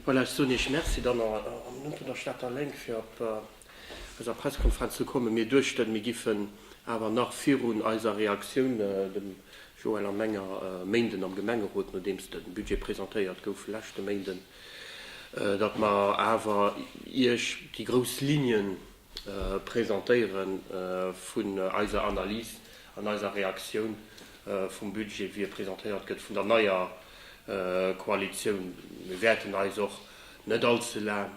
Voilà, ech soen Iech Merci dann an am Numm vun der Stater Lénk fir op eiser Pressekonferenz ze kommen. Mir duechten, mir giffen awer nach virun eiser Reaktioun, dem Joël a menger, e Méinden am Gemengerot, nodeems de Budget presentéiert gouf leschte Méinden, datt mer awer Iech déi grouss Lignen, Presentéiere vun eiser Analys an eiser Reaktioun vum Budget, wéi e presentéiert gëtt vun der neier Koalitioun. Mir wäerten eis och net all ze laang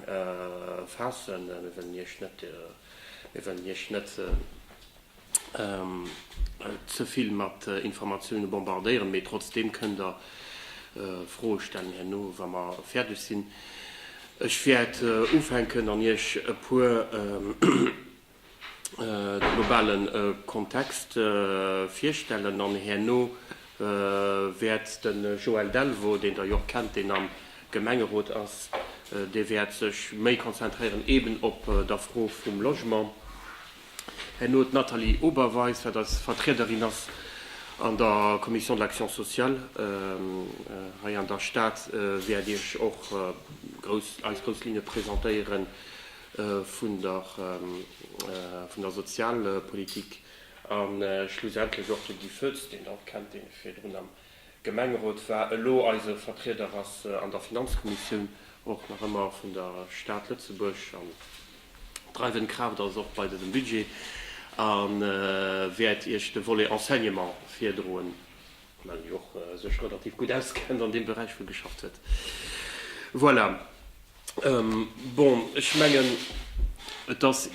faassen. Mir wëllen Iech net ze vill mat Informatioune bombardéieren, mee trotzdeem kënnt Der Froe stellen herno, wa mer fäerdeg sinn. Ech wäert ufänken an Iech e puer de globale Kontext virstellen an herno wäert de Joël Delvaux, deen Der jo och kennt, deen am Gemengerot ass, dee wäert sech méi konzentréieren eeben op der Fro vum Logement. Herno d'Nathalie Oberweis, wat als Vertriederin ass an der Commission de l'action sociale hei an der Stad, wäert Iech och grouss, eis grouss Linne presentéiere vun der, vun der Sozialpolitik. A schlussendlech och de Guy Foetz, deen Der och kennt, deen virdrun am Gemengerot war, elo eise Vertrieder ass an der Finanzkommissioun och nach ëmmer vun der Stad Lëtzebuerg an d'dreiwend Kraaft ass och bei dësem Budget a wäert Iech de Volet Enseignement virdroen, well en jo och sech relativ gutt auskennt an deem Beräich vill geschafft huet. Voilà. Bon, ech mengen, et ass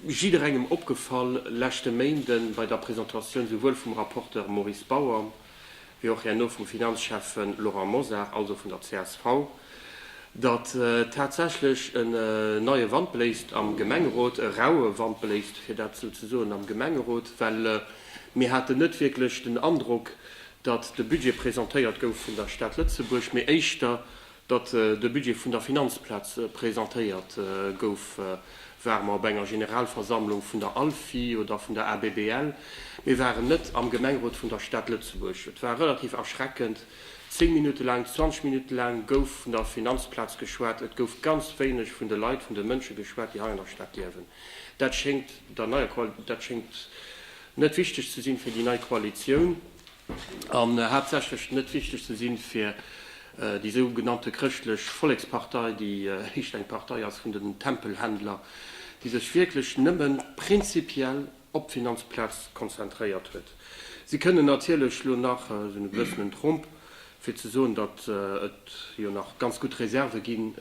jidderengem opgefall leschte Méinden bei der Presentatioun souwuel vum Rapporteur Maurice Bauer, wéi och herno vum Finanzschäffen Laurent Mosar, also vun der csv, datt tatsächlech en neie Wand bléist am Gemengerot, e raue Wand bléist, fir dat esou ze soen, am Gemengerot, well mir haten net wierklech den Androck, datt de Budget presentéiert gouf vun der Stad Lëtzebuerg, mee éischter Datt de Budget vun der Finanzplaz presentéiert gouf, ware mer op enger Generalversammlung vun der ALFI oder vun der ABBL. Mir waren net am Gemengrot vun der Stad Lëtzebuerg. Et war relativ erschreckend, zéng Minutte laang, zwanzeg Minutte laang gouf vun der Finanzplaz geschwat. Et gouf ganz wéineg vun de Leit, vun de Mënsche geschwat, déi hei an der Stad liewen. Dat schéngt der neier, dat schéngt net wichteg ze sinn fir déi nei Koalitioun. an haaptsächlech net wichteg ze sinn fir déi sou genannte chrëschtlech Vollekspartei, déi éischt eng Partei ass vun den Tempelhändler, déi sech wierklech nëmme prinzipiell op d'Finanzplaz konzentréiert huet. Si kënnen natierlech lo nach sou e bëssen en Tromp Fir ze soen, datt et jo nach ganz gutt Reserve ginn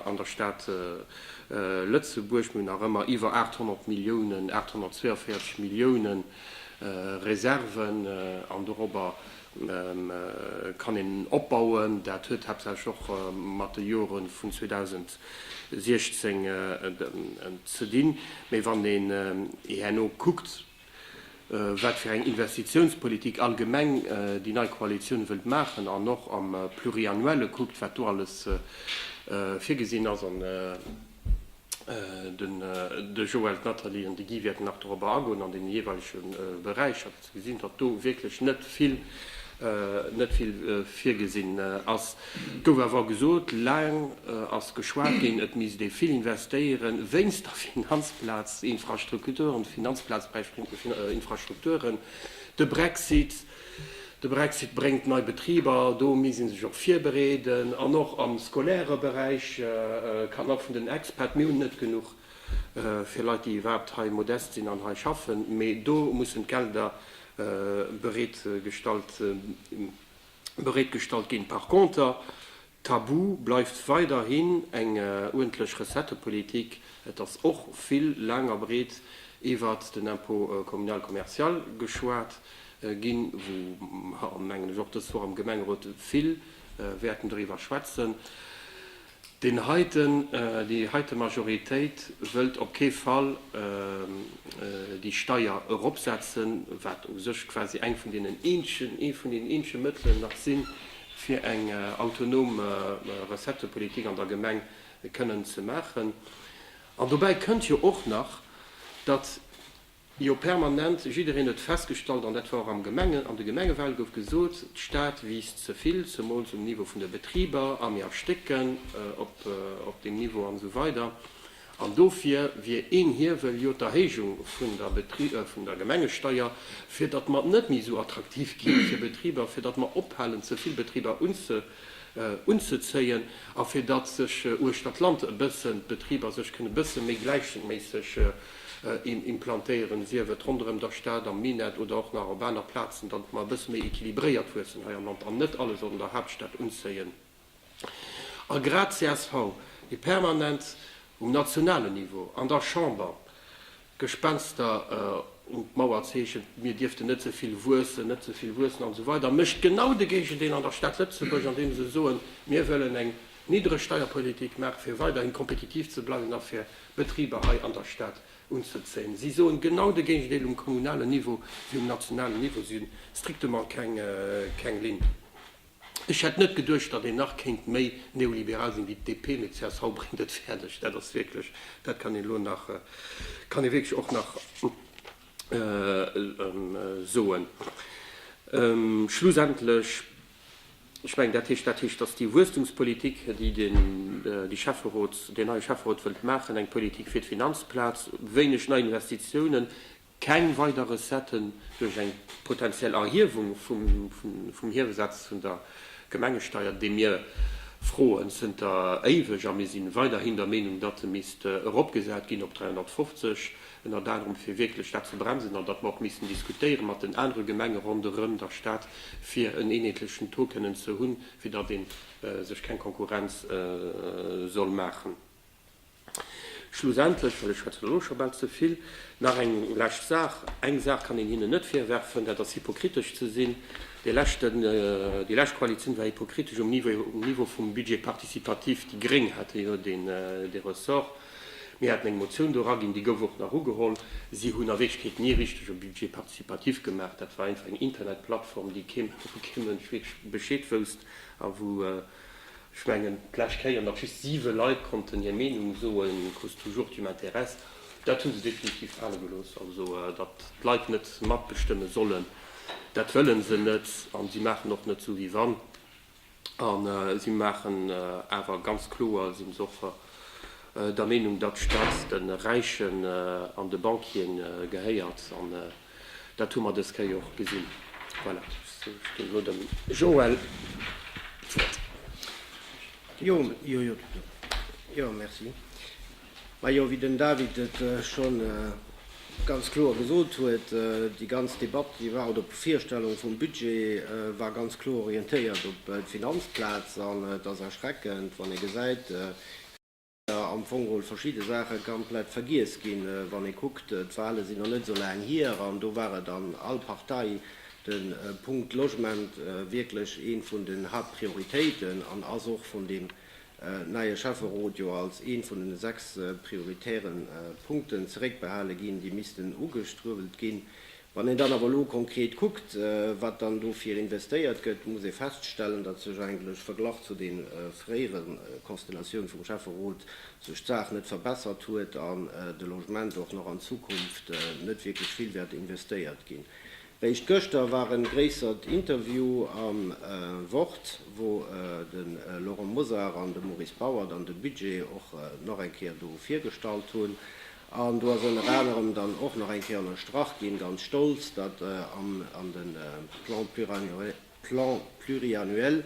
an der Stad Lëtzebuerg. Mir hunn nach ëmmer iwwer 800 Milliounen, 842 Millioune Reserven, an dorobber kann een opbauen. Dat huet haaptsächlech och mat de Jore vun 2016 ze dinn. Mee wann een herno kuckt, wat fir eng Investitiounspolitik allgemeng déi nei Koalitioun wëllt maachen an och am Pluriannuelle kuckt, wat do alles virgesinn ass. An de Joël, d'Nathalie an de Guy wäerten nach dorobber agoen an deene jeeweilege Beräicher, wou se gesinn, datt do wierklech net vill virgesinn ass. Et gouf awer och gesot, laang ass geschwat ginn, et misst ee vill investéieren wéinst der Finanzplaz-Infrastrukturen, Finanzplaz bei Infrastrukturen. De Brexit, de Brexit bréngt nei Betriber, do misst ee sech och virbereeden. An och am scolaire Beräich kann och vun den Expat, mir hunn net genuch fir Leit, déi iwwerhaapt hei modest sinn an hei schaffen, mee do mussen d'Gelder bereet gestallt. bereetgestallt ginn. Par conter, Tabu bleift weiderhin eng uerdentlech Recettepolitik. Et ass och vill laang a breet iwwert den Impôt communal commercial geschwat ginn, wou mer, mengen ech, och dës Woch am Gemengerot vill wäerten doriwwer schwätzen. Deen heiten, déi heite Majoritéit wëllt op kee Fall déi Steier eropsetzen, wat u sech quasi eng vun deenen eenzegen, ee vun deenen eenzege Mëttelen nach sinn, fir eng autonom Recettepolitik an der Gemeng kënnen ze maachen. An dobäi kënnt jo och nach, datt Jo, permanent. Jiddereen huet festgestallt, an dat war och am Gemengen, an de Gemengewahlen gouf gesot, d'Stad wiisst ze vill, zemools um Niveau vun de Betriber, a mir erstécken op deem Niveau an esou weider. An dofir wier een Hiewel jo d'Erhéijung vun der Gemengesteier, fir datt mer net méi esou attraktiv gi fir Betriber, fir datt mer ophalen, ze vill Betriber unzezéien, a fir datt sech uechter d'Land e bëssen d'Betriber sech kënnen e bësse méi gläichméisseg, implantéieren, sief et ronderëm der Stad, am Minett oder och nach op aner Plazen, datt mer e bësse méi équilibréiert wuessen hei am Land an net alles op der Haaptstad unzéien. A grad csv, déi permanent um nationalen Niveau an der Chamber Gespenster un d'Mauer zeechent, mir dierften net ze vill wuessen, net ze vill wuessen an esou weider, mécht genau de Géigendeel an der Stad Lëtzebuerg, andeem se soen, mir wëllen eng Niddregsteierpolitik maachen, fir weiderhi kompetitiv ze bleiwen a fir, Betriber hei an der Stad unzezéien. Si soen genau de Géigendeel um kommunalen Niveau wéi um nationalen Niveau. Si hunn strictement keng Linn. Ech hätt net geduecht, datt een nach kéint méi neoliberal sinn wéi d'DP, mee csv bréngt et fäerdeg. Dat ass wierklech, dat kann een elo nach, kann ee wierklech och nach soen. Schlussendlech. Ech mengen, dat heescht, dat heescht, dass déi Wuesstumspolitik, déi den, déi Schäfferot, deen neie Schäfferot wëllt maachen, eng Politik fir d'Finanzplaz, wéineg nei Investitiounen, keng weider Recetten duerch eng potentiell Erhiewung vum, vum Hiewesaz vun der Gemengesteier, dee mir froen zënter éiweg, a mir si weiderhin der Meenung, datt e misst eropgesat ginn op 350, ënnert anerem fir wierklech dat ze bremsen an datt mer och missten diskutéiere mat den anere Gemenge ronderëm der Stad, fir en eenheetlechen Taux kënnen ze hunn, fir datt ee sech keng Konkurrenz soll maachen. Schlussendlech, well ech schwätzen elo scho bal ze vill, nach eng lescht Saach, Eng Saach kann een hinnen net virwerfen, dat ass hypokritesch ze sinn. Déi lescht Koalitioun war hypokritesch um Niveau vum Budget participatif. Déi Gréng hate jo dee Ressort. Mir haten eng Motioun do eraginn, déi gouf och nach ugeholl. Si hunn a Wierklechkeet ni richteg e Budget participatif gemaach. Dat war einfach eng Internetplattform, déi kee, wou kee Mënsch wierklech Bescheed wousst a wou, ech mengen, d'lescht Kéier nach just siwe Leit konnten hir Meenung soen, Qu'est-ce toujours tu m'intéresses? Dat hu se definitiv fale gelooss. Also, datt d'Leit net matbestëmme sollen, dat wëlle se net. A si maachen och net sou wéi wann. An si maachen awer ganz kloer, si se och der Meenung, datt Staat de Räichen an de Bankien gehéiert. An dat hu mer dës Kéier jo och gesinn. Voilà, ech ginn elo dem Joël d'Wuert. Majo, wéi den David et scho ganz kloer gesot huet, déi ganz Debatt, déi war, oder d'Bevirstellung vum Budget war ganz kloer orientéiert op d'Finanzplaz. An et ass erschreckend, wann ee gesäit, wéi da am Fong emol verschidde Saache komplett vergiess ginn. Wann ee kuckt, d'Wahle sinn nach net esou laang hier, an do war et an all Partei de Punkt Logement wierklech ee vun den Haaptprioritéiten an ass och vun deem neie Schäfferot jo als ee vun den sechs prioritäre Punkten zeréckbehale ginn, déi missten ugestruewelt ginn. Wann een dann awer elo konkret kuckt, wat dann dofir investéiert gëtt, muss ee feststellen, datt sech eigentlech verglach zu de fréiere Konstellatioune vum Schäfferot sech d'Saach net verbessert huet an de Logement och nach an Zukunft net wierklech vill wäert investéiert ginn. Réischt gëschter war en gréissert Interview am Wort, wou de Laurent Mosar an de Maurice Bauer dann de Budget och nach eng Kéier do virgestallt hunn. An do ass ënner anerem dann och nach eng Kéier ënnerstrach ginn, ganz stolz, datt an de Plan pluriannuel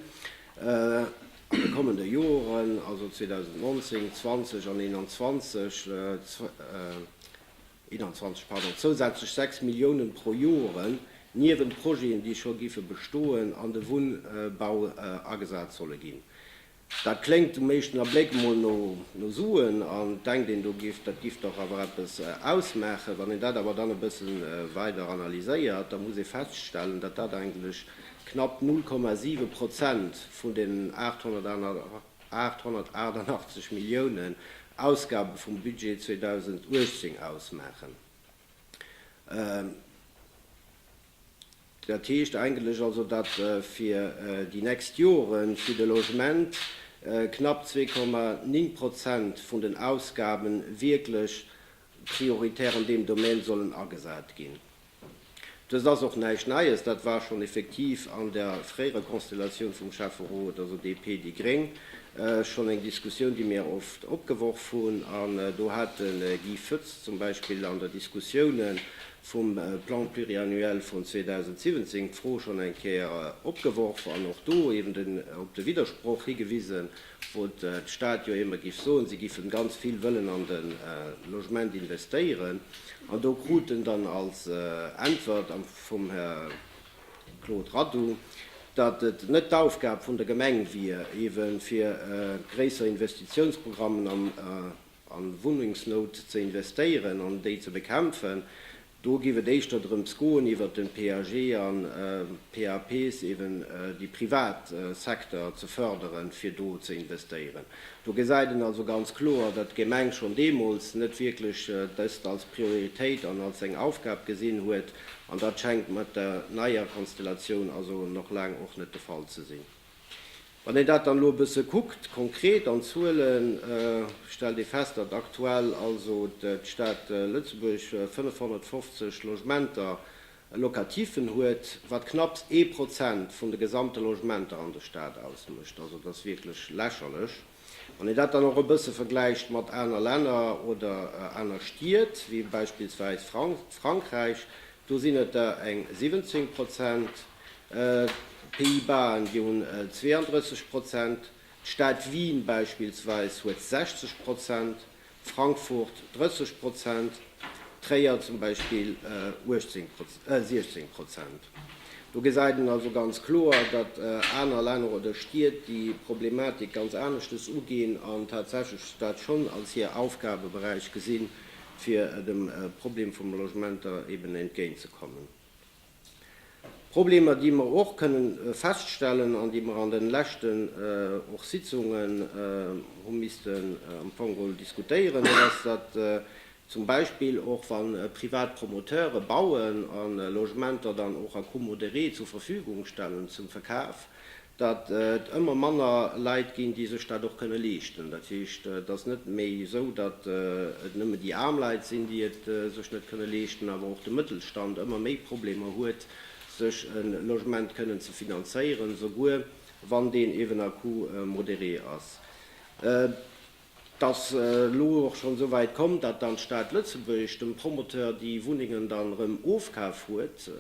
an de kommende Joren, also 2019, 2020 an 2021, 21 pardon, zousätzlech 6 Milliounen pro Joren, niewent Projeten, déi scho géife bestoen, an de Wunnbau agesat solle ginn. Dat kléngt um éischten Abléck emol no Suen, an et denkt een, do géif, dat géif dach awer eppes ausmaachen. Wann een dat awer dann e bësse weider analyséiert, da muss ee feststellen, datt dat eigentlech knapp 0,7 Prozent vun deenen 881 888 Milliounen Ausgabe vum Budget 2018 ausmaachen. Dat heescht eigentlech also, datt fir déi nächst Jore fir de Logement knapp 2,9 Prozent vun den Ausgabe wierklech prioritär an deem Domaine sollen agesat ginn. Dëst ass och näischt Neies, dat war schonn effektiv an der fréierer Konstellatioun vum Schäfferot, also DP, déi gréng, schonn eng Diskussioun, déi mir oft opgeworf hunn. An do hat de Guy Foetz zum Beispill an der Diskussioune vum Plan pluriannuel vun 2017 d'Fro schonn eng Kéier opgeworf an och do eben op de Widdersproch higewisen, wou d'Stad jo émmer giff soen, si giffen ganz vill wëllen an de Logement investéieren, an do krut en dann als Äntwert vum Här Claude Radu, datt et net d'Aufgab vun der Gemeng wier, eeben fir gréisser Investitiounsprogrammen an Wunnengsnout ze investéieren an déi ze bekämpfen. Do giff et éischter drëms goen iwwert den PAG an PAPs eben déi privat Secteur ze förderen fir do ze investéieren. Do gesäit en also ganz kloer dat d'Gemeng schon deemols net wierklech dëst als Prioritéit an als seng Aufgab gesinn huet an dat schengt mat der neier Konstellatioun also nach laang och net de Fall ze sinn. Wann een dat dann elo e bësse kuckt, konkret an Zuelen, stellt ee fest, datt aktuell also d'Stad Lëtzebuerg 550 Logementer locativen huet, wat knapps ee Prozent vun de gesamte Logementer an der Stad ausmécht. Also dat ass wierklech lächerlech. Wann een dat dann och e bësse vergläicht mat aner Länner oder aner Stied, wéi beispillsweis Frankräich, do sinn et der eng 17 Prozent, D'Pays-Basen, déi hunn 32 Prozent, d'Stad Wien beispillsweis huet 60 Prozent, Frankfurt 30 Prozent, Tréier zum Beispill 16 Prozent. Do gesäit een also ganz kloer, datt aner Länner oder Stied déi Problematik ganz aneschtes uginn an tatsächlech dat schonn als hir Aufgabeberäich gesinn, fir dem Problem vum Logementer eeben entgéintzekommen. Problemer, déi mer och kënnen feststellen an déi mer an den leschten och Sitzungen hu missten am Fong geholl diskutéieren, dat ass, datt zum Beispill och wa privat Promoteure bauen a Logementer dann och a comodéré zur Verfügung stellen zum Verkaf, datt et ëmmer manner Leit ginn, déi sech dat och kënne leeschten. Dat heescht, et ass net méi esou, datt et nëmme déi aarm Leit sinn, déi et sech net kënne leeschten, awer och de Mëttelstand ëmmer méi Problemer huet, sech e Logement kënnen ze finanzéieren, souguer wann deen eeben à coût modéré ass. T'ass elo och schonn esou wäit komm, datt dann d'Stad Lëtzebuerg dem Promoteur déi Wunnengen dann erëm ofkaf huet,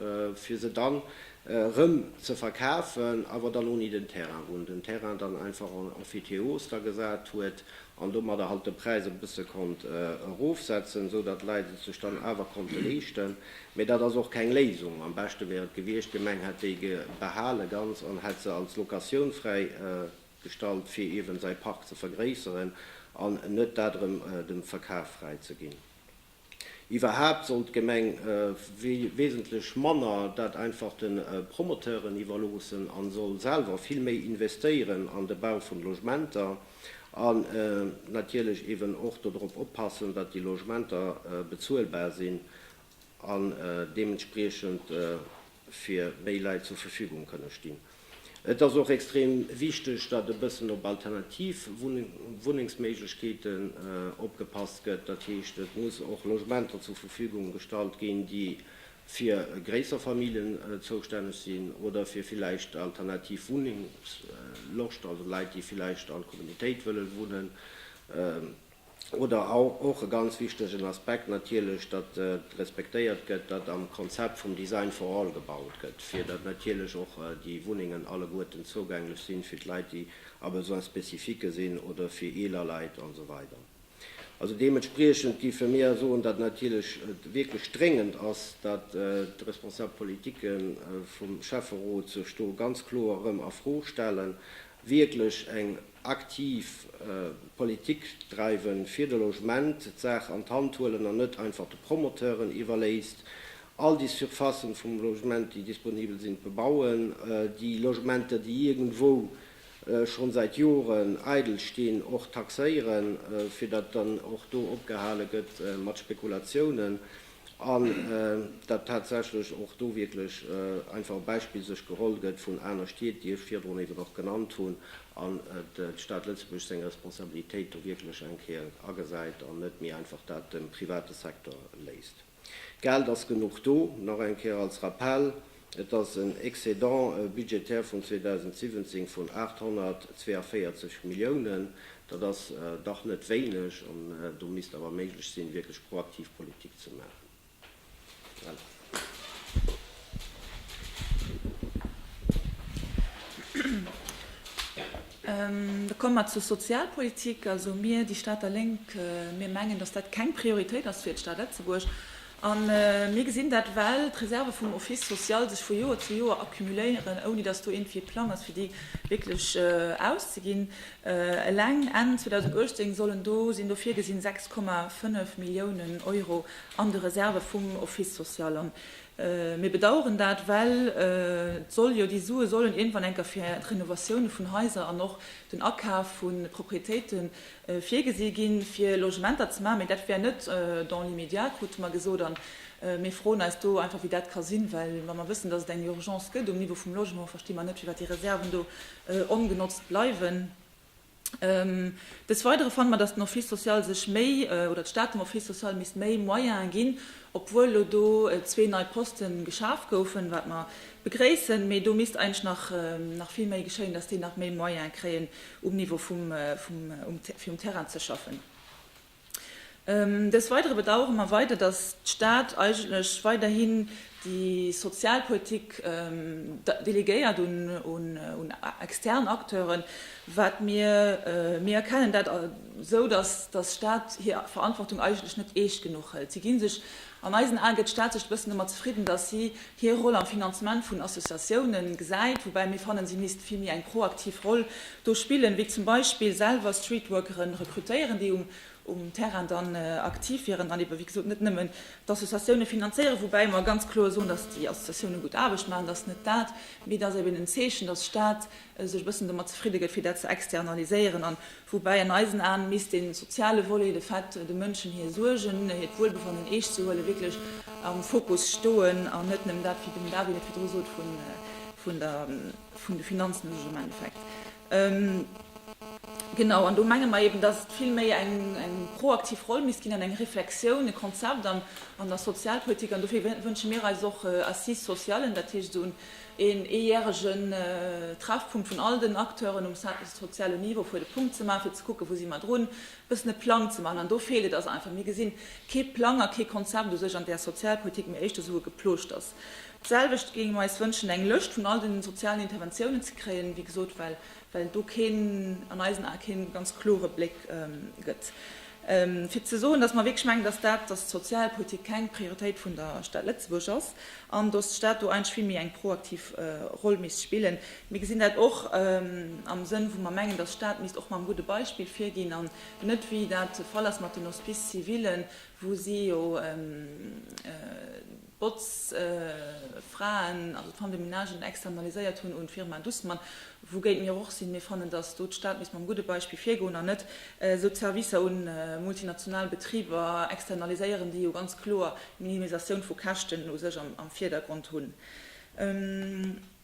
fir se dann erëm ze verkafen, awer dann ouni den Terrain, wou en den Terrain dann einfach en emphytéose da gesat huet an domadder halt de Präis e bësse konnt erofsetzen, esou datt d'Leit et sech dann awer konnte leeschten. Mee dat ass och keng Léisung. Am beschte wär et gewiescht, d'Gemeng hätt déi behale ganz an hätt se als Locatioun fräi gestallt fir eben säi Park ze vergréisseren an net dat erëm dem Verkaf fräi ze ginn. Iwwerhaapt sollt d'Gemeng wesentlech manner dat einfach de Promoteuren iwwerloossen an soll selwer vill méi investéieren an de Bau vun Logementer an natierlech eben och dodrop oppassen dat déi Logementer bezuelbar sinn an deementspriechend fir méi Leit zur Verfügung kënne stinn. Et ass och extrem wichteg, datt e bëssen op alternativ Wunnengsméiglechkeeten opgepasst gëtt. Dat heescht, et muss och Logementer zur Verfügung gestallt ginn, déi fir gréisser Familljen zoustänneg sinn oder fir villäicht alternativ Wunnungsloscht, also Leit, déi villäicht an Communitéit wëlle wunnen. Oder och e ganz wichtegen Aspekt natierlech, datt et respektéiert gëtt, datt am Konzept vum Design for all gebaut gëtt, fir datt natierlech och déi Wunnengen alleguerten zougänglech sinn, fir d'Leit, déi a Besoins spécifiquë sinn oder fir eeler Leit an esou weider. Also deementspriechend géife mir soen, datt natierlech et wierklech dréngend ass, datt d'responsabel Politike vum Schäfferot sech do ganz kloer erëm a Fro stellen, wierklech eng. aktiv Politik dreiwen fir de Logement, d'Saach an d'Hand huelen an net einfach de Promoteuren iwwerléisst, all déi Surfacen vum Logement, déi disponibel sinn, bebauen, déi Logementer, déi iergendwou schonn säit Joren eidel stinn, och taxéieren, fir datt dann och do opgehale gëtt mat Spekulatiounen. an dat tatsächlech och do wierklech einfach e Beispill sech geholl gëtt vun aner Stied, déi ech virdrun eben och genannt hunn, an d'Stad Lëtzebuerg seng Responsabilitéit do wierklech eng Kéier agesäit an net méi einfach dat dem private Secteur léisst. D'Geld ass genuch do. Nach eng Kéier als Rappell, Et ass en Excédent budgétaire vun 2017 vun 842 Milliounen. Dat ass dach net wéineg an do misst awer méiglech sinn, wierklech proaktiv Politik ze maachen. Voilà. Da komme mer zur Sozialpolitik. Also mir, déi Stater Lénk, mir mengen, dass dat keng Prioritéit ass fir d'Stad Lëtzebuerg. A mir gesinn dat, well d'Reserve vum Office social sech vu Joer zu Joer accumuléieren, ouni datt do iergendwéi e Plang ass, fir déi wierklech auszeginn. Eleng Enn 2018 sollen do, sinn do virgesinn, 6,5 Milliounen Euro an de Reserve vum Office social. A mir bedauern dat, well et soll jo, déi Sue sollen iergendwann enker fir d'Renovatioune vun Haiser an och den Akaf vu Proprietéite Virgesi ginn, fir Logementer ze maachen, mee dat wär net dans l'immédiat, krute mer gesot. A mir froen eis do einfach, wéi dat ka sinn, well wa mer wëssen, dass et eng Urgence gëtt um Niveau vum Logement, versti mer net, firwat déi Reserven do ongenotzt bleiwen. Des Weidere fanne mer, dass den Office social sech méi, oder d'Stad dem Office social misst méi Moyene ginn, obwuel elo do zwee nei Poste geschaf goufen, wat mer begréissen, mee do misst eigentlech nach vill méi geschéien, dass déi nach méi Moyene kréien, um Niveau vum, vum, um, fir um Terrain ze schaffen. Dës weidere bedauere mer weider, dass d'Stad eigentlech weiderhin déi Sozialpolitik delegéiert un, un, un extern Acteuren, wat mir, mir erkennen dat esou, dass, dass d'Stad hir Verantwortung eigentlech net eescht genuch hëlt. Si gi sech An eisen Ae gëtt d'Stad sech e bëssen domat zefridden, datt si hir Roll am Finanzement vun Associatiounen gesäit, woubäi mir fannen, si misst vill méi eng proaktiv Roll do spillen, wéi zum Beispill selwer Streetworkere rekrutéieren, déi um Terrain dann aktiv wieren an ebe wéi gesot net nëmmen d'Associatioune finanzéieren, woubäi mer ganz kloer soen, datt déi Associatioune gutt Aarbecht maachen, dat ass net dat, mee et ass eben en Zeechen, datt d'Stad sech e bëssen domat zefridde gëtt, fir dat ze externaliséieren an Woubäi an eisen Aen misst de soziale Volet, de Fait de Mënschen hir Suergen, hiert Wuelbefannen eescht ze huelen, wierklech am Fokus stoen an net nëmmen dat, wéi den David et virdru sot, vun de Finanzmësech am Endeffekt. Genau, an do menge mer eben, datt et vill méi eng proaktiv Roll misst ginn an eng Reflexioun, e Konzept an der Sozialpolitik. An dofir wënsche mir eis och Assise socialen, dat heescht esou een eejäregen Treffpunkt vun all den Acteuren um soziale Niveau, fir de Punkt ze maachen, fir ze kucken, wou si mer drun, e bëssen e Plang ze maachen. An do feelt et eis einfach. Mir gesi kee Plang a kee Konzept u sech an där Sozialpolitik, mee éischter esou e Geplooschters. D'selwecht géinge mer eis wënschen, eng Lëscht vun all de sozialen Interventiounen ze kréien, wéi gesot, well well do keen, an eisen Ae keen ganz klore Bléck gëtt fir ze soen, datt mer wierklech mengen, datt dat, datt d'Sozialpolitik keng Prioritéit vun der Stad Lëtzebuerg ass an datt d'Stad do eigentlech vill méi eng proaktiv Roll misst spillen. Mir gesinn dat och am Sënn, wou mer mengen, datt d'Stad misst och mam gudde Beispill virginn an net, wéi dat de Fall ass mat den Hospices civilen, wou si jo, Botzfraen, also d'Femmes de ménage, externaliséiert hunn un d'Firma Dussmann, wougéint mir och sinn. Mir fannen, datt do d'Stad misst mam gudde Beispill virgoen an net esou d'Servicer un multinational Betriber externaliséieren, déi jo ganz kloer d'Minimisatioun vu Käschten u sech am Vierdergrond hunn.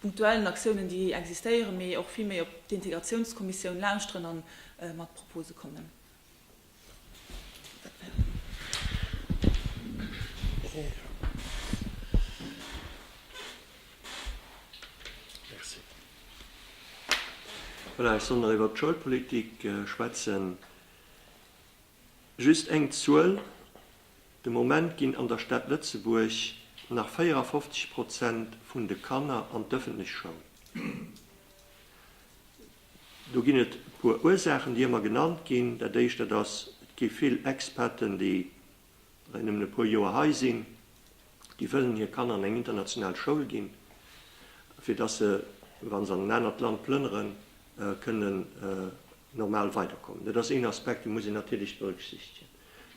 punktuellen Aktiounen, déi existéieren, mee och vill méi op d'Integratiounskommissioun lauschteren a mat Propose kommen. Voilà, ech soll nach iwwert d'Schoulpolitik schwätzen. Just eng Zuel, De Moment ginn an der Stad Lëtzebuerg nach 54 Prozent vun de Kanner an d'ëffentlech Schoul. Do ginn et e puer Ursaachen, déi ëmmer genannt ginn. Dat éischt, dat ass, et gi vill Expaten, déi reng nëmmen e puer Joer hei sinn, déi wëllen hir Kanner an eng international Schoul ginn, fir dass se, wa se an en anert Land plënneren, kënnen, normal weiderkommen. Dat ass een Aspekt, dee muss een natierlech berücksichtigen.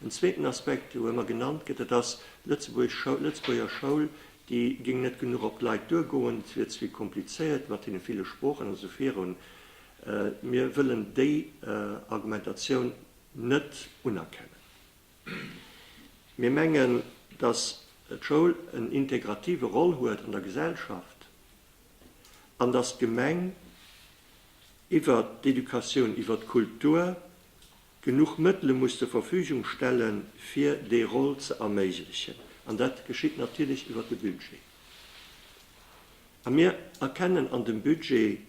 En zweeten Aspekt, dee ëmmer genannt gëtt, dat ass, d'Lëtzebuerger Schoul, déi géing net genuch op d'Leit duergoen, et wier ze komplizéiert mat deene ville Sproochen a sou virun. Mir wëllen déi Argumentatioun net unerkennen. Mir mengen, dass d'Schoul en integrative Rôle huet an der Gesellschaft an dass d'Gemeng, iwwer d'Educatioun, iwwer d'Kultur, genuch Mëttele muss zur Verfügung stelle fir déi Roll ze erméiglechen. An dat geschitt natierlech iwwer de Budget. A mir erkennen an dem Budget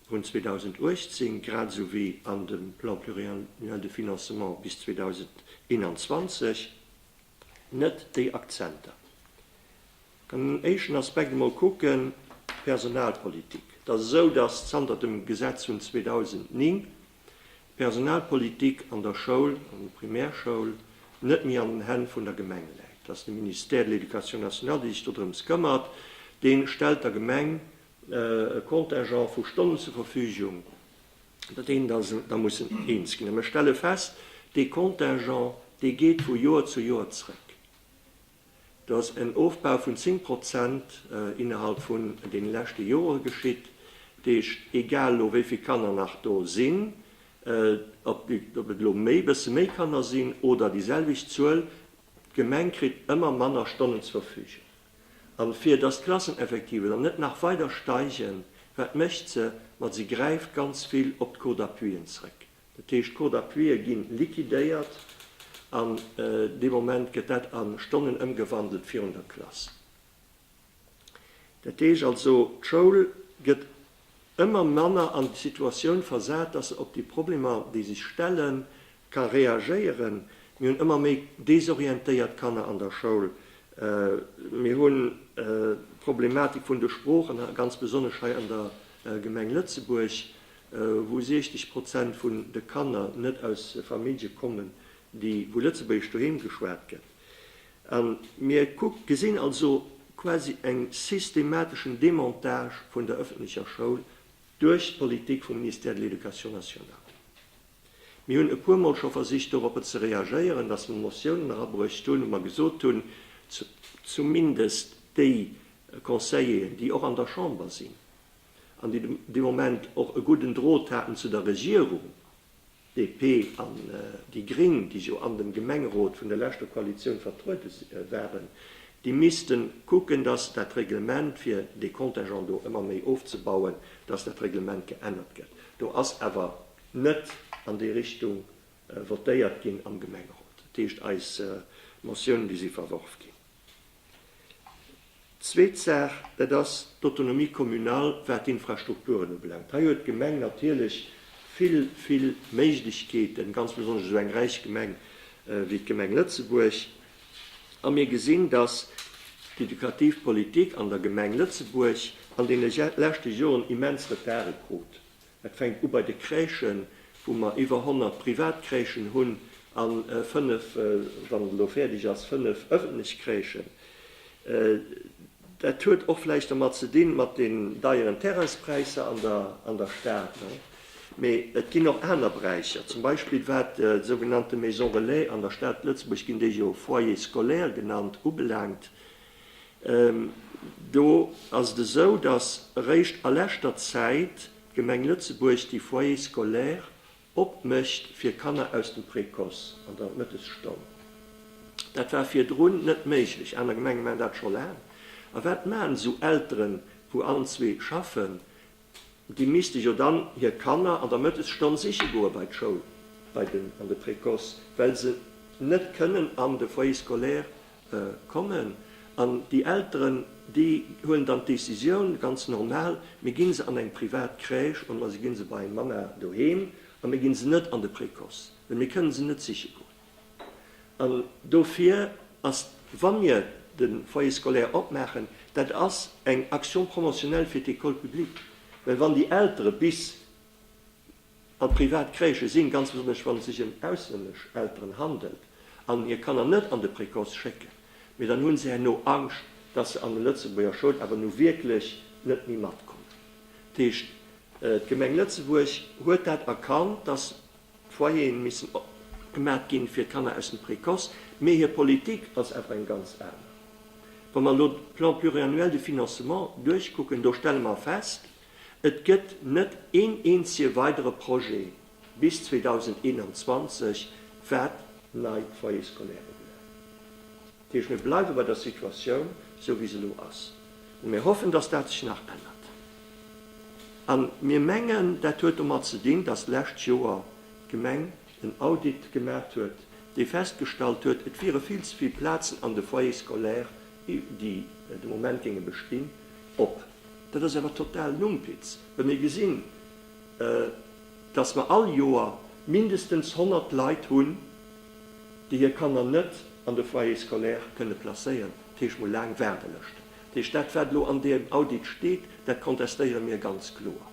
vun 2018, grad esou wéi an dem Plan pluriannuel de financement bis 2021, net déi Akzenter. Den éischten Aspekt emol kucken, d'Personalpolitik. Et ass esou, dass zanter dem Gesetz vun 2009 d'Personalpolitik an der Schoul, an der Primärschoul, net méi an den Hänn vun der Gemeng läit. Et ass de Ministère de l'Éducation nationale, dee sech dodrëms këmmert. Dee stellt der Gemeng e Contingent vu Stonnen zur Verfügung, iwwer deen der sech da mussen eens ginn. A mir stelle fest, dee Contingent, dee geet vu Joer zu Joer zréck. Do ass en Ofbau vun 10 Prozent innerhalb vun deene leschte Jore geschitt. Dat heescht, egal elo wéi vill Kanner nach do sinn, ob et elo e bësse méi Kanner sinn oder déi selwecht Zuel, d'Gemeng kritt ëmmer manner Stonnen zur Verfügung. A fir dass d'Klasseneffectiven dann net nach weider steigen, wat mécht se? Ma si gräift ganz vill op d'Cours d'appuien zrëck. Dat heescht, d'Court d'appuie ginn liquidéiert an dee Moment gëtt dat a Stonnen ëmgewandelt virun der Klass. Dat heescht also, d'Schoul gëtt ëmmer manner an d'Situatioun versat, dass se op déi Problemer, déi sech stelle, ka reagéieren. Mir hunn ëmmer méi desorientéiert Kanner an der Schoul. Mir hunn d'Problematik vun de Sproochen, ganz besonnesch hei an der Gemeng Lëtzebuerg. wou 60 Prozent vun de Kanner net aus Famillje kommen, déi wou Lëtzebuergesch doheem geschwat gëtt. A mir gesinn also quasi eng systemateschen Demontage vun der ëffentlecher Schoul duerch d'Politik vum Ministère de l'Éducation nationale. Mir hunn e puer Mol scho versicht doropper ze reagéieren, dass mer Motiounen erabruecht hunn, wou mer gesot hunn, zumindest déi Conseilleren, déi och an der Chamber sinn, an déi de Moment och e gudden Drot haten zu der Regierung, DP an déi Gréng, déi jo an dem Gemengerot vun der leschter Koalitioun vertruede waren, déi misste kucken, dass dat Reglement, fir dee Contingent do ëmmer méi ofzebauen, dass dat Reglement geännert gëtt. Do ass awer net an déi Richtung votéiert ginn am Gemengerot. Dat heescht, eis Motiounen, déi si verworf ginn. Zweet Saach, dat ass d'Autonomie communale, wat d'Infrastrukturen ubelaangt. Hei huet d'Gemeng natierlech vill, vill Méiglechkeeten, ganz besonnesch esou eng räich Gemeng wéi d'Gemeng Lëtzebuerg. A mir gesinn, dass d'edukativ Politik an der Gemeng Lëtzebuerg an deene leschte Joren immens Retarde krut. Et fänkt u bei de Crèchen, wou mer iwwer 100 privat Crèchen hunn a fënnef, wann et elo fäerdeg ass, fënnef ëffentlech Crèchen. Dat huet och vläicht domat ze dinn, mat den deieren Terrainspräisser an der Stad. Mee et ginn och aner Beräicher, zum Beispill wat déi sougenannte Maison relais, an der Stad Lëtzebuerg ginn déi jo Foyer scolaire genannt, ubelaangt. Do ass et esou, datt eréischt a leschter Zäit d'Gemeng Lëtzebuerg déi Foyers scolaires opmécht fir Kanner aus dem Précoce an der Mëttesstonn. Dat war virdrun net méiglech. Aner Gemenge maachen dat scho laang. A wat maachen esou Elteren, wou allen zwee schaffen? Déi misste jo dann hir Kanner an der Mëttesstonn siche goe bei d'Schoul, bei den, an de Précoce, well se net kënnen an de Foyer scolaire kommen. An déi Elteren, déi huelen dann d'Décisioun, ganz normal, Mir gi se an eng privat Crèche oder si gi se bei Mama doheem a mir gi se net an de Précoce, well mir kënnen se net siche goen. An dofir ass, wa mir de Foyer scolaire opmaachen, dat ass eng Action promotionnelle fir d'Ecole publique, well wann déi Eltere bis an d'privat Crèche sinn, ganz besonnesch wann et sech ëm auslännesch Elteren handelt an hir Kanner net an de Précoce schécken, mee dann hu se herno Angscht, dass se an de Lëtzebuerger Schoul awer nu wierklech net méi matkommen. Dat heescht, d'Gemeng Lëtzebuerg huet dat erkannt, dass D'Foyeren missen opgemaat ginn fir d'Kanner aus dem Précoce, mee hir Politik ass awer eng ganz aner. Wa mer elo de Plan pluriannuel de financement duerchkucken, do stelle mer fest, et gëtt net een eenzege weidere Projet bis 2021, wat nei Foyers scolaires ubelangt. Dat heescht, mir bleiwe bei der Situatioun, esou wéi se elo ass. Mä mir hoffen, dass dat sech nach ännert. A mir mengen, dat huet domat ze dinn, dass d'lescht Joer d'Gemeng en Audit gemaacht huet, dee festgestallt huet, et wiere vill ze vill Plazen an de Foyers scolaires, déi de Moment géinge bestinn, op. Dat ass awer total Numpitz, wa mir gesinn, dass mer all Joer mindestens 100 Leit hunn, déi hir Kanner net an de Foyer scolaire kënne placéieren, dat heescht mol laang Waardelëschten. Dat heescht, dat wat elo an deem Audit steet, dat kontestéiere mir ganz kloer.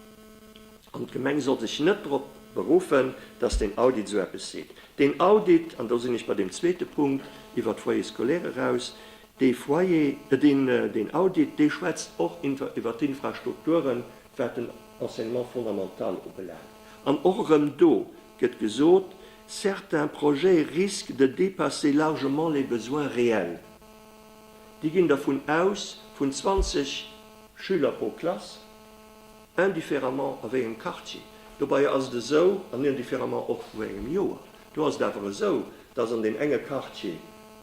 An d'Gemeng soll sech net drop beruffen, datt deen Audit esou eppes seet. Deen Audit, an do sinn ech bei deem zweete Punkt iwwert d'Foyer scolaire eraus, dee Foyer, deen, deen Audit, dee schwätzt och iwwert d'Infrastrukturen, wat den Enseignement fondamental ubelaangt. An och erëm do gëtt gesot, certains projets risquent de dépasser largement les besoins réels. Déi ginn dervun aus, vun 20 Schüler pro Klass, indifféremment a wéi engem Quartier. Dobei ass et esou, an indifféremment och wou engem Joer, do ass et awer esou, dass an deem enge Quartier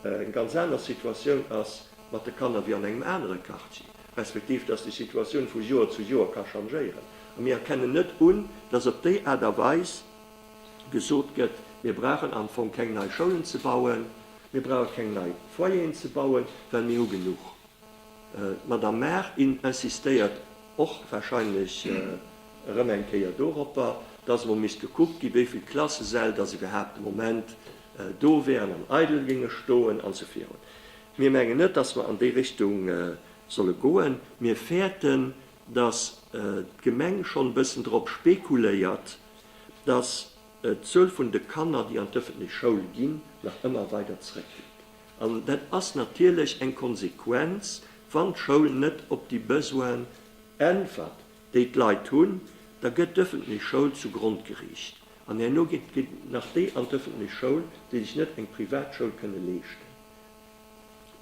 eng ganz aner Situatioun ass mat de Kanner wéi an engem anere Quartier. respektiv dass déi Situatioun vu Joer zu Joer ka changéieren, a mir erkennen net un, dass op déi Aart a Weis gesot gëtt, mir brauchen am Fong keng nei Schoulen ze bauen, mir brauche keng nei Foyeren ze bauen, well mir hu genuch. D'Madame Mar insistéiert och wahrscheinlech erëm eng Kéier doropper, dass emol misst gekuckt gi wéi vill Klassesäll dass iwwerhaapt de Moment do wäeren an eidel géinge stoen an sou virun. Mir mengen net, dass mer an déi Richtung solle goen. Mir fäerten, dass d'Gemeng schonn e bëssen drop spekuléiert, dass d'Zuel vun de Kanner, déi an d'ëffentlech Schoul ginn, nach ëmmer weider zrëckgeet. An dat ass natierlech eng Konsequenz, wann d'Schoul net op déi Besoinen äntwert, déi d'Leit hunn, da gëtt d'ëffentlech Schoul zu Grond geriicht. An herno ginn nach déi an d'ëffentlech Schoul, déi sech net eng Privatschoul kënne leeschten.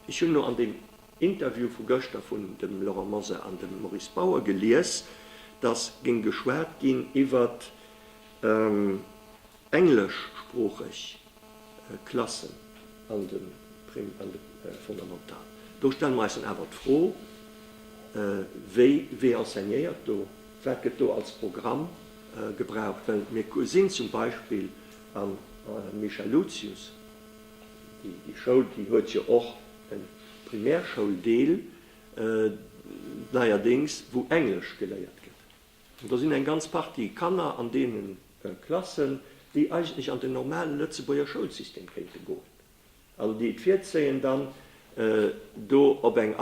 Ech hunn elo an deem Interview vu gëschter vun dem Laurent Mosar an dem Maurice Bauer gelies, datt géing geschwat ginn iwwert engleschsproocheg Klassen an de Fondamentalen. Do stelle mer eis dann awer d'Fro, Wie enseignéiert do? Wat gëtt do als Programm gebraucht? Well mir sinn zum Beispill am Michaelucius, Déi Schoul, déi huet jo och e Primärschoul-Deel neierdéngs, wou Englesch geléiert gëtt. An do sinn eng ganz Partie Kanner an deene Klassen, déi eigentlech an den normale Lëtzebuerger Schoulsystem kéinte goen, an déi et virzéien, dann do op eng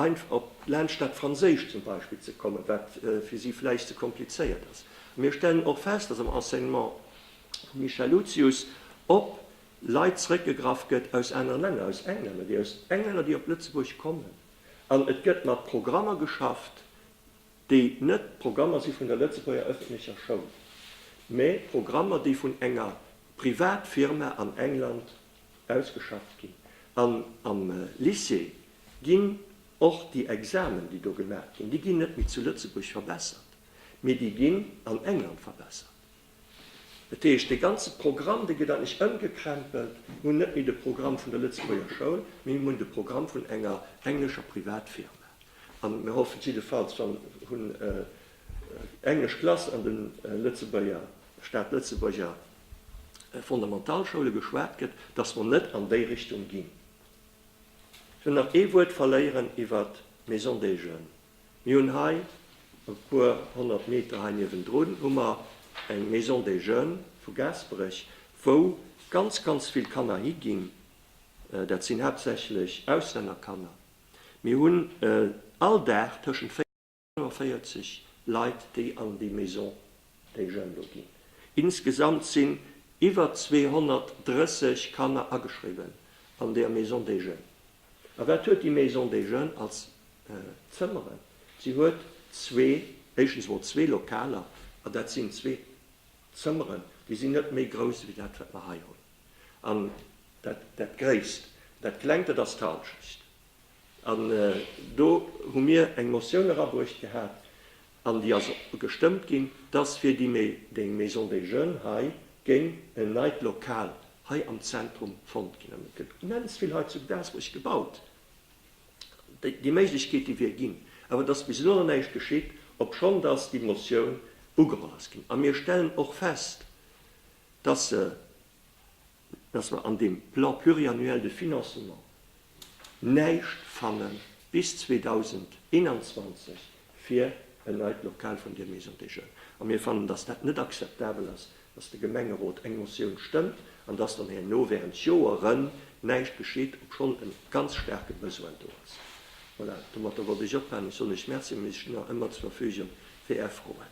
laanscht dat Franséischt zum Beispill ze kommen, wat fir si vläicht ze komplizéiert ass. Mir stellen och fest, dass am Enseignement vum Michèle Lucius op Leit zréckgegraff gëtt aus anere Länner, aus Englänner, déi aus Englänner, déi op Lëtzebuerg kommen. An et gëtt mat Programmer geschafft, déi net Programmer si vun der Lëtzebuerger ëffentlecher Schoul, mä Programmer, déi vun enger Privatfirma an England ausgeschafft ginn. An am Lycée ginn och déi Examen, déi do gemaach ginn, déi ginn net méi zu Lëtzebuerg verbessert, mä déi ginn an England verbessert. Dat heescht, dee ganze Programm, dee gëtt eigentlech ëmgekrämpelt. Mir hunn net méi de Programm vun der Lëtzebuerger Schoul, mee mir hunn de Programm vun enger englescher Privatfirma. An mir hoffen jiddefalls, wann hunn englesch Klass an de Lëtzebuerger, Staatlëtzebuerger Fondamentalschoule geschwat gëtt, dass mer net an déi Richtung ginn. Ech wëll nach ee Wuert verléieren iwwert d'Maison des Jeunes. Mir hunn hei, e puer honnert Meter hei niewendrun, hu mer eng Maison des Jeunes vu Gaasperech, wou ganz, ganz vill Kanner higinn. Dat sinn haaptsächlech Auslännerkanner. Mir hunn all Dag tëschent 40 a 45 Leit, déi an déi Maison des Jeunes do ginn. Insgesamt sinn iwwer 230 Kanner ageschriwwen an där Maison des Jeunes. A wat huet déi Maison des Jeunes als Zëmmeren? Si huet zwee, éischtens emol zwee Lokaler, an dat sinn zwee Zëmmeren, déi sinn net méi grouss ewéi dat, wat mer hei hunn. An dat, dat Gréisst, dat Klengt, dat ass d'Halschecht. An do hu mir eng Motioun erabruecht gehat, An déi ass gestëmmt ginn, dass fir déi Maison des Jeunes hei géing en neit Lokal hei am Zentrum fonnt ginn. An et gëtt immens vill hei zu Gaasperech gebaut. Déi Méiglechkeet, déi wier ginn. Awer et ass bis elo nach näischt geschitt, obschonn dass déi Motioun ugeholl ass ginn. A mir stellen och fest, dass se dass mer an deem Plan pluriannuel de financement näischt fanne bis 2021 fir en neit Lokal vun där Maison des Jeunes. A mir fannen, dass dat net akzeptabel ass, dass de Gemengerot eng Motioun stëmmt an dass dann herno während Joeren näischt geschitt, obschonn e ganz staarke Besoin do ass. Voilà, domatter wollt ech ophalen. Ech soen Iech Merci, mee ech stinn nach ëmmer zur Verfügung fir Är Froen.